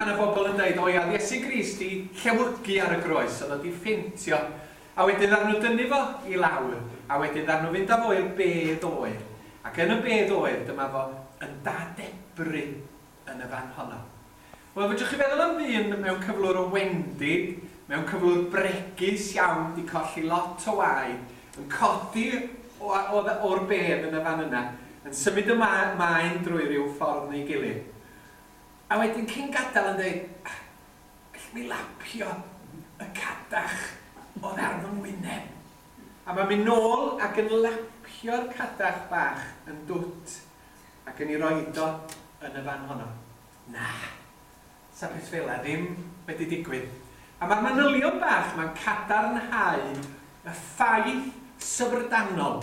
Pan o bobl yn deud, o ia, oedd Iesu Grist 'di llewygu ar y groes, oedd o 'di ffeintio, a wedyn ddaru nhw dynnu fo i lawr, a wedyn ddaru nhw fynd â fo i'r bedd oer, ac yn y bedd oer, dyma fo yn dadebru yn y fan honno. Wel, fedrwch chi feddwl am ddyn mewn cyflwr o wendid, mewn cyflwr bregus iawn, 'di colli lot o waed, yn codi o, o, o'r bedd yn y fan yna, yn symud y ma, maen drwy ryw ffordd neu gilydd. A wedyn cyn gadael yn deud, Gallwn ni lapio y cadach oddi ar fy ngwyneb? A mae'n mynd nôl ac yn lapio'r cadach bach yn dwt ac yn ei roid o yn y fan honno. Na, 'sa peth fela ddim wedi digwydd. A mae'r manylion bach 'ma'n cadarnhau y ffaith syfrdanol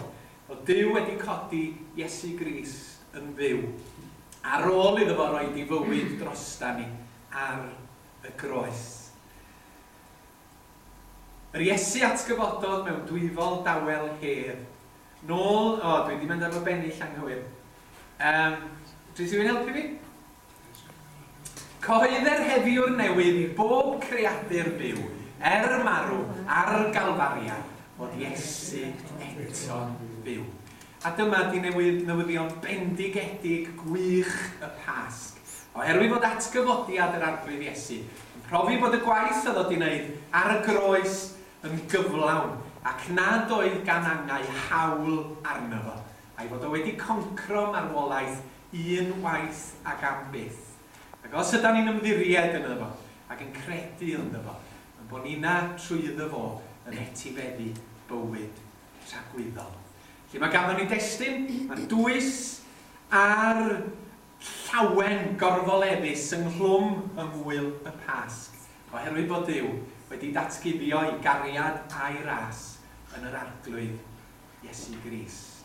fod Duw wedi codi Iesu Grist yn fyw. Ar ôl iddo fo roid ei fywyd drostan ni ar y groes. Yr Iesu atgyfododd mewn dwyfol dawel hedd. Nôl, o, dwi 'di mynd ar fy bennill anghywir. Yym, dwi rhywun helpu fi? Cyhoedder heddiw'r newydd i bob creadur byw, er marw ar Galfaria, fod Iesu eto'n fyw. A dyma ydi newid newyddion bendigedig gwych y Pasg. Oherwydd fod atgyfodiad yr Arglwydd Iesu yn profi bod y gwaith oedd o di wneud ar y groes yn gyflawn ac nad oedd gan angau haul arno fo, a'i fod o wedi concro marwolaeth un waith ag am byth. Ac os ydan ni'n ymddiried yno fo ac yn credu ynddo fo, yn bo nina trwy iddo fo yn etibeddu bywyd. tragwyddol. Felly mae ganddo ni destun, mae'r dwys a'r llawen gorfoleddus ynghlwm yng ngŵyl y Pasg, oherwydd bod Duw wedi datguddio'i gariad a'i ras yn yr Arglwydd Iesu Grist.